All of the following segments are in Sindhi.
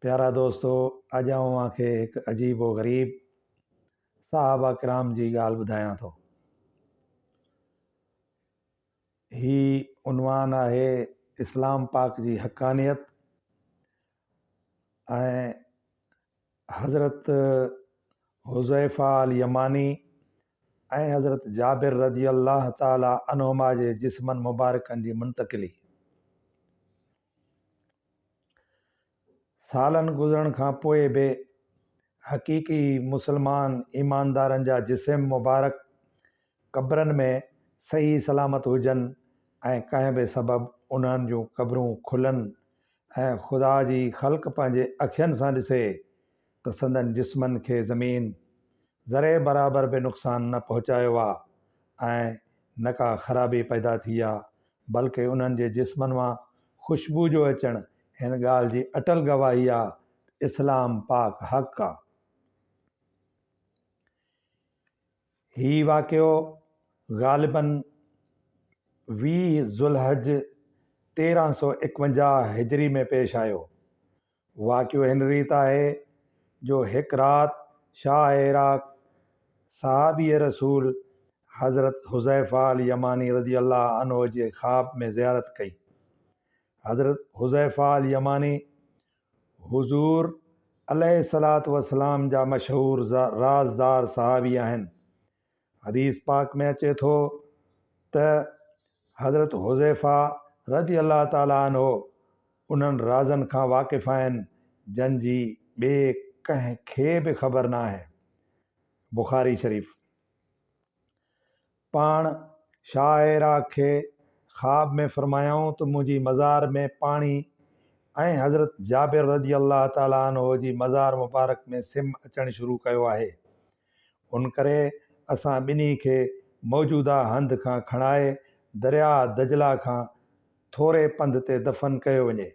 پيارا دوستو اڄ آئون اوهان کي هڪ عجيب و غريب صحابه ڪرام جي ڳالهه ٻڌايان ٿو. هي عنوان آهي اسلام پاڪ جي حقانيت ۽ حضرت حذيفه اليماني ۽ حضرت جابر رضي الله تعالٰي عنهما جي جسمن مبارڪن جي منتقلي. سالن گذرڻ کان پوء به حقيقي مسلمان ايماندارن جا جسم مبارڪ قبرن ۾ صحيح سلامت هجن ۽ ڪنهن به سبب انهن جون قبرون کلن ۽ خدا جي خلق پنهنجي اکين سان ڏسي ته سندن جسمن کي زمين ذري برابر به نقصان نه پهچايو آ ۽ نه ڪا خرابي پيدا ٿي آ بلڪه انهن جي جسمن مان خوشبو جو اچڻ هن ڳالهه جي اٽل گواهي آ ته اسلام پاڪ حق آ. هي واقعو غالباً ويهه ذوالحج تيرهن سؤ ايڪونجاهه هجري ۾ پيش آيو. واقعو هن ريت آهي جو هڪ رات شاهه عراق صحابي رسول حضرت حذيفه اليماني رضي الله عنه جي خواب ۾ زيارت ڪئي. حضرت حذيفه اليماني حضور عليه الصلوة والسلام جا مشهور رازدار صحابي آهن. حديث پاڪ ۾ اچي ٿو ته حضرت حذيفه رضي الله تعالٰي عنه انهن رازن کان واقف آهن جن جي ٻئي ڪنهن کي به خبر نه آهي. بخاري شريف. پاڻ شاهه عراق کي خواب ۾ فرمايائون ته منهنجي مزار ۾ پاڻي ۽ حضرت جابر رضي الله تعالٰي عنه جي مزار مبارڪ ۾ سم اچڻ شروع ڪيو آهي. ان ڪري اسان ٻنهي کي موجوده هنڌ کان کڻائي درياهه دجله کان ٿوري پنڌ تي دفن ڪيو وڃي.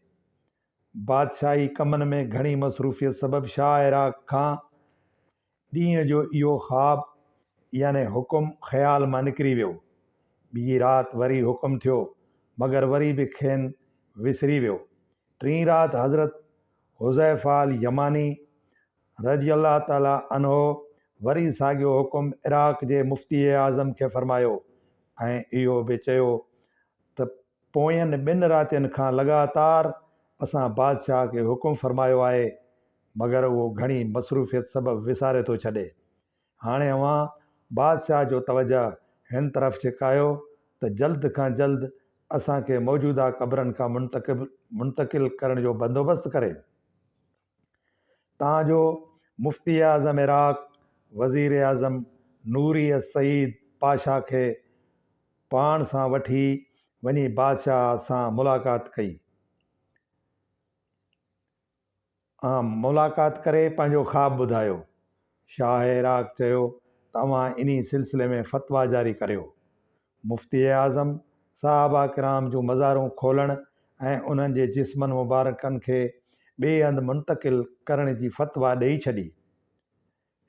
بادشاهي ڪمن ۾ گهڻي مصروفيت سبب شاهه عراق کان ڏينهن جو اهو خواب يعني حڪم خيال مان نڪري ويو. ٻي رات وري حڪم ٿيو مگر وري به کين وسري ويو. ٽين رات حضرت حذيفه اليماني رضي الله تعالٰي عنه وري ساڳيو حڪم عراق جي مفتي اعظم کي فرمايو ۽ اهو به چيو ته پوين ٻن راتين کان لڳاتار اسان بادشاهه کي حڪم فرمايو آهي مگر اهو گهڻي مصروفيت سبب وساري ٿو ڇڏي. هاڻي اوهان بادشاهه جو توجهه هن طرف ڇڪايو ته جلد کان جلد اسان کي موجوده قبرن کان منتقل ڪرڻ جو بندوبست ڪري. تان جو مفتي اعظم عراق وزيراعظم نوري السعيد پاشا کي پاڻ سان وٺي وڃي بادشاهه سان ملاقات ڪئي ۽ ملاقات ڪري پنهنجو خواب ٻڌايو. شاهه عراق چيو ته اوهان انهي سلسلي ۾ فتويٰ جاري ڪريو. مفتي اعظم صحابه ڪرام جون مزارون کولڻ ۽ انهن جي جسمن مبارڪن کي ٻئي هنڌ منتقل ڪرڻ جي فتويٰ ڏئي ڇڏي.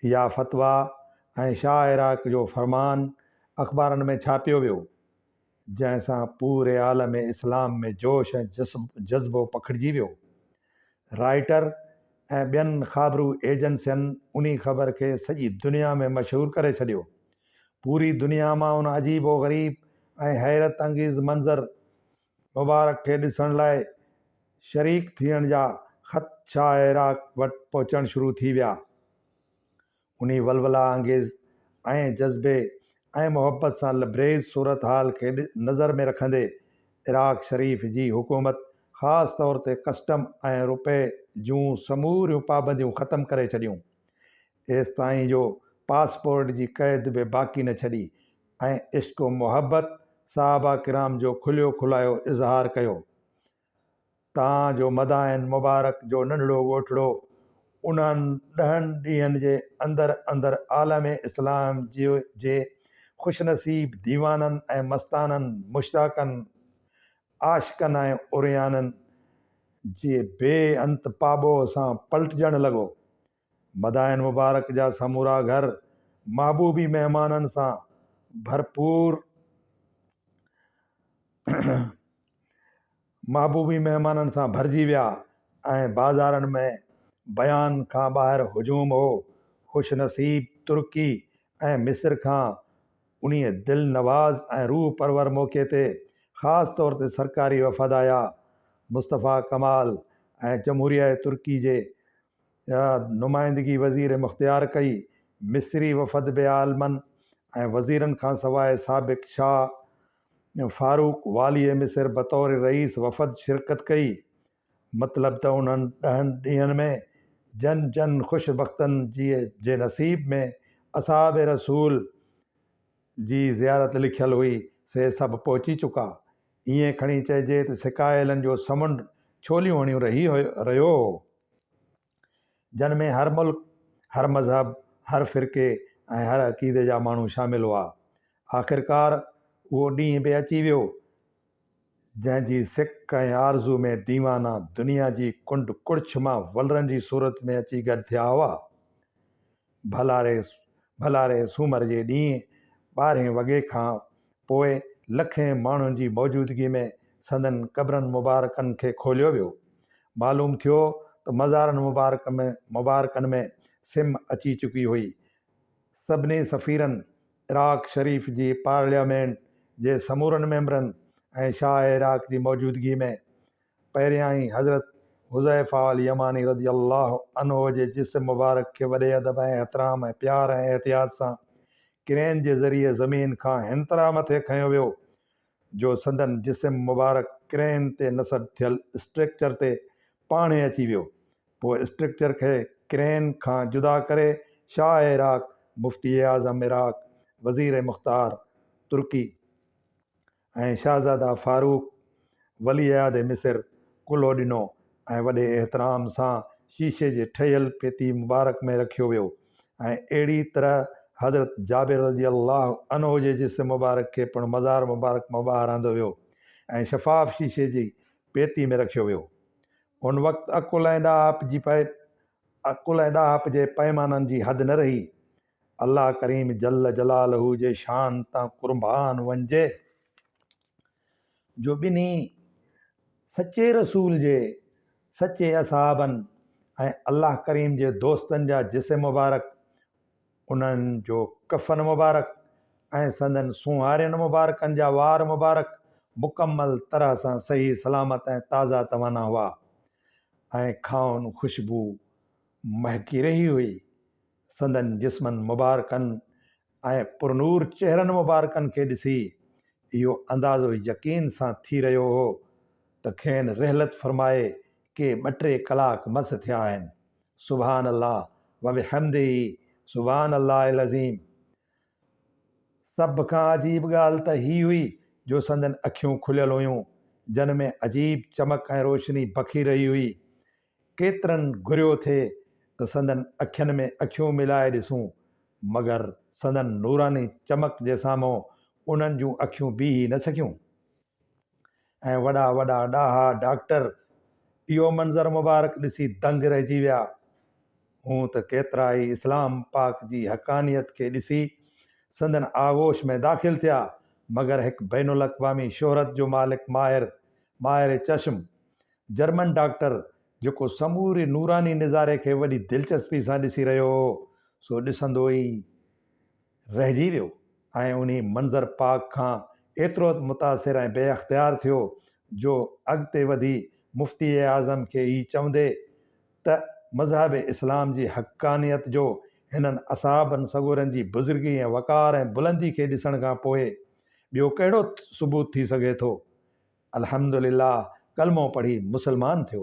اها فتويٰ ۽ شاهه عراق جو فرمان اخبارن ۾ ڇاپيو ويو، جنهن سان پوري عالم اسلام ۾ جوش ۽ جذبو پکڙجي ويو. رائٽر ۽ ٻين خابرو ايجنسين انهي خبر کي سڄي دنيا ۾ مشهور ڪري ڇڏيو. پوري دنيا مان ان عجيب و غريب ۽ حيرت انگيز منظر مبارڪ کي ڏسڻ لاء شريڪ ٿيڻ جا خط شاهه عراق وٽ پهچڻ شروع ٿي ويا. انهي ولولا انگيز ۽ جذبي ۽ محبت سان لبريز صورتحال کي نظر ۾ رکندي عراق شريف جي حڪومت خاص طور تي ڪسٽم ۽ روپئي جون سموريون پابنديون ختم ڪري ڇڏيون. ايستائين جو پاسپورٽ جي قيد به باقي نه ڇڏي ۽ عشق و محبت صحابه ڪرام جو کليو کلايو اظهار ڪيو. تان جو مدائن مبارڪ جو ننڍڙو ڳوٺڙو انهن ڏهن ڏينهن جي اندر اندر عالم اسلام جي خوش نصيب ديوانن ۽ مستانن، مشتاقن، عاشقن ۽ عريانن جي بي انت پاٻوهه سان پلٽجڻ لڳو. مدائن مبارڪ جا سمورا گهر محبوبي مهمانن سان ڀرپور محبوبي مهمانن سان ڀرجي ويا ۽ بازارن ۾ بيان کان ٻاهر هجوم هو. خوش نصيب ترڪي ۽ مصر کان انهي دلنواز ۽ روح پرور موقعي تي خاص طور تي سرڪاري وفد آيا. مصطفيٰ ڪمال ۽ جمهوريه ترڪي جي جا نمائندگي وزير مختيار ڪئي، مصري وفد به عالمن ۽ وزيرن کان سواء سابق شاهه فاروق واليء مصر بطور رئيس وفد شرڪت ڪئي، مطلب ته انهن ڏهن ڏينهن ۾ جن جن خوش بختن جي نصيب ۾ اصحاب رسول جي زيارت لکيل هئي سي سڀ پهچي چڪا، ائين کڻي چئجي ته سڪائيلن جو سمنڊ ڇوليون هڻيون رهي رهيو هو، جن ۾ هر ملڪ، هر مذهب، هر فرقي ۽ هر عقيدي جا ماڻهو شامل هئا. آخرڪار اهو ڏينهن به اچي ويو، جنهن جي سڪ ۽ آرزو ۾ ديوانا دنيا جي ڪنڊ ڪڙڇ مان ولرن جي صورت ۾ اچي گڏ ٿيا هئا. ڀلا ري ڀلا ري سومر جي ڏينهن ٻارهين وڳي کان پوء لکين ماڻهن جي موجودگي ۾ سندن قبرن مبارڪن کي کوليو ويو. معلوم ٿيو ته مزارن مبارڪ ۾ مبارڪن ۾ سم اچي چڪي هئي. سڀني سفيرن، عراق شريف جي پارليامينٽ جي سمورن ميمبرن ۽ شاهه عراق جي موجودگي ۾، پهريائين حضرت حذيفه اليماني رضي الله عنه جي جسم مبارڪ کي وڏي ادب ۽ احترام ۽ پيار ۽ احتياط سان ڪرين جي ذريعي زمين کان هنطرح مٿي کنيو ويو جو سندن جسم مبارڪ ڪرين تي نصب ٿيل اسٽرڪچر تي پاڻهي اچي ويو پوء اسٽرڪچر کي ڪرين کان جدا ڪري شاهه عراق مفتي اعظم عراق وزير مختار ترڪي ۽ شهزاده فاروق ولي عهد مصر ڪلهو ڏنو ۽ وڏي احترام سان شيشي جي ٺهيل پيتي مبارڪ ۾ رکيو ويو ۽ اهڙي طرح حضرت جابر رضي الله عنه جي جسم مبارڪ کي پڻ مزار مبارڪ مان ٻاهر آندو ويو ۽ شفاف شيشي جي پيتي ۾ رکيو ويو ان وقت عقل ۽ ڏاهپ جي عقل ۽ ڏاهپ جي پيمانن جي حد نه رهي الله ڪريم جل جلاله جي شان تان قربان وڃجي جو ٻنهي سچي رسول جي سچي اصحابن ۽ الله ڪريم جي دوستن جا جسم مبارڪ انهن جو ڪفن مبارڪ ۽ سندن سونهارين مبارڪن جا وار مبارڪ مڪمل طرح سان صحيح سلامت ۽ تازا توانا هئا ۽ کانئن خوشبو مهڪي رهي هئي سندن جسمن مبارڪن ۽ پرنور چهرن مبارڪن کي ڏسي اهو اندازو يقين سان ٿي رهيو هو ته کين رحلت فرمائي ڪي ٻه ٽي ڪلاڪ مس ٿيا آهن. سبحان الله وبحمده سبحان الله العظيم سڀ کان عجيب ڳالهه ته هي هئي جو سندن اکيون کليل هيون جن ۾ عجيب چمڪ ۽ روشني بکي رهي هئي. ڪيترن گهريو ٿي ته سندن اکين ۾ اکيون ملائي ڏسون، مگر سندن نوراني چمڪ جي سامهون انهن جون اکيون بيهي نه سگهيون ۽ وڏا وڏا ڏاها ڊاڪٽر اهو منظر مبارڪ ڏسي دنگ رهجي ويا. هونء ته ڪيترا ئي اسلام پاڪ جي حقانيت کي ڏسي سندن آغوش ۾ داخل ٿيا، مگر هڪ بين الاقوامي شهرت جو مالڪ ماهر، ماهر چشم جرمن ڊاڪٽر، جيڪو سموري نوراني نظاري کي وڏي دلچسپي سان ڏسي رهيو هو، سو ڏسندو ئي رهجي ويو ۽ انهي منظر پاڪ کان ايترو ته متاثر ۽ بي اختيار ٿيو جو اڳتي وڌي مفتي اعظم کي هي چوندي ته مذهب اسلام جي حقانيت جو هنن اصحابن سڳورن جي بزرگي ۽ وقار ۽ بلندي کي ڏسڻ کان پوء ٻيو ڪهڙو ثبوت ٿي سگهي ٿو الحمد لله ڪلمو پڙهي مسلمان ٿيو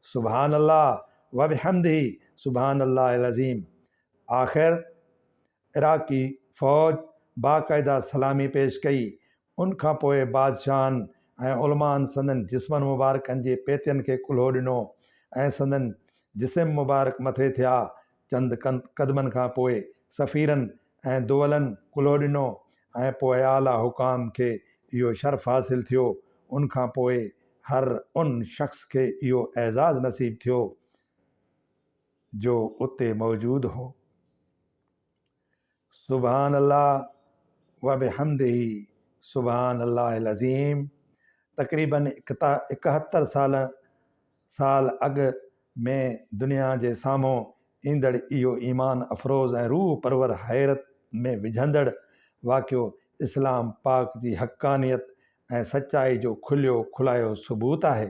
سبحان الله وبحمده سبحان الله العظيم آخر عراقي فوج باقاعده سلامي پيش ڪئي ان کان پوء بادشاهن ۽ علمائن سندن جسمن مبارڪن جي پيتين کي ڪلهو ڏنو ۽ سندن جسم مبارڪ مٿي ٿيا چند قدمن کان پوء سفيرن ۽ دولن ڪلهو ڏنو ۽ پوء اعليٰ حڪام کي اهو شرف حاصل ٿيو. ان کان پوء هر ان شخص کي اهو اعزاز نصيب ٿيو جو اتي موجود هو. سبحان الله وبحمده سبحان الله العظيم تقريباً اڪهتر سال سال اڳ ۾ دنيا جي سامهون ايندڙ اهو ايمان افروز ۽ روح پرور حيرت ۾ وجهندڙ واقعو اسلام پاڪ جي حقانيت ۽ سچائي جو کليو کلايو ثبوت آهي.